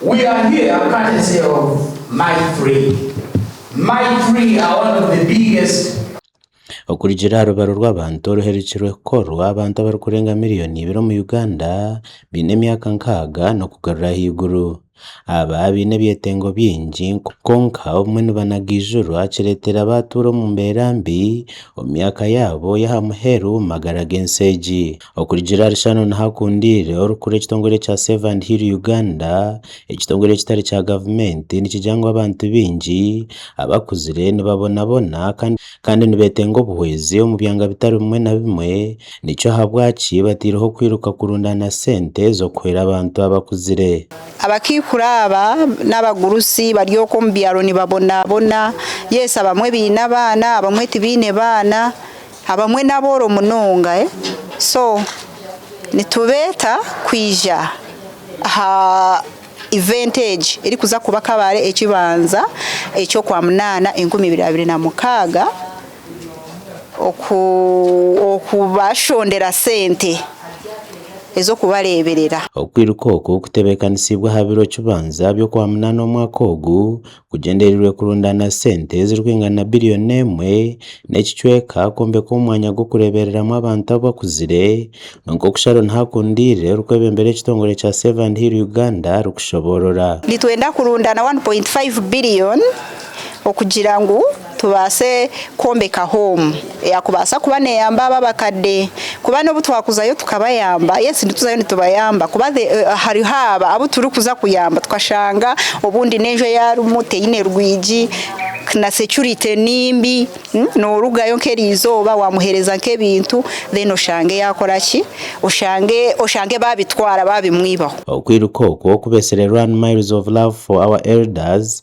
We are here courtesy of my three My three are one of the biggest. Okurugiirira aha rubaro rw'abantu oruherekirwe kukorwa, abantu abarikurenga miriyoni ibiri omu Uganda baine emyaka nkaaga n'okugarura ahaiguru. Aba baine ebyetengo bingi kwonka obumwe nibanagiijurwa kireeteire abaatuura omu mbeera mbi omu myaka yaabo y'aha muheru omu magara g'ensi egi. Okurugiirira ahari Shannon Hakundiire orikukura ekitongore kya Save and Heal Uganda, ekitongore ekitari kya gavumenti nikigira ngu abantu baingi abakuzire nibabonabona kandi nibetenga obuhwezi omu byanga bitari bimwe na bimwe nikyo ahabwaki bataireho kwiruka kurundaana sente z'okuhwera abantu abakuzire. Abakaikuru aba n'abagurusi bari okwo omu byaro nibabonabona. Yes abamwe baine abaana abamwe tibaine baana. Abamwe n'abooro munonga, so nitubeeta kwija aha event egi erikuza kuba Kabale ekibanza eky'okwamunaana enkumi ibiri abiri na mukaaga okubashondera sente ez'okubareeberera. Okwiruka oku kutebekanisibwe aha biro kibanza by'okwamunaana omwaka ogu kugyendereirwe kurundaana sente ezirikwingana na biriyoni emwe n'ekicweka kwombeka omwanya gw'okureebereramu abantu abakuzire kwonka oku Sharon Hakundiire orikwebembera ekitongore kya Save and Heal Uganda arikushoboorora. Nitwenda kurundaana K1.5 billion okugira ngu Tubaase kwombeka hoomu eyakubaasa kuba neyamba abo abakadde kuba n'obu twakuzayo tukabayamba yes nituzayo nitubayamba kuba hariho abo abu turikuza kuyamba tukashanga obundi n'enju ei arimu teine rwigi na securite nimbi norugayo nk'erizooba wamuhereza nk'ebintu then oshange yakora ki oshange oshange babitwara babimwibaho. Okwiruka okwo kubeeserwe Run Miles of Love for our Elders,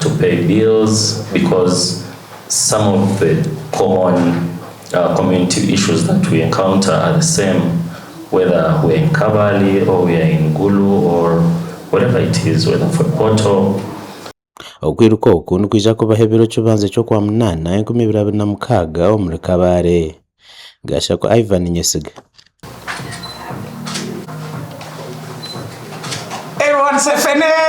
to pay bills because some of the common community issues that we encounter are the same whether we are in kabale or we are in gulu or wherever it is whether for portal. Okwiruka oku nikwija kubaho ebiro kibanza eky'okwamunaana enkumi ibiri abiri na mukaaga omuri Kabale. Gashako Ivan Nyesiga.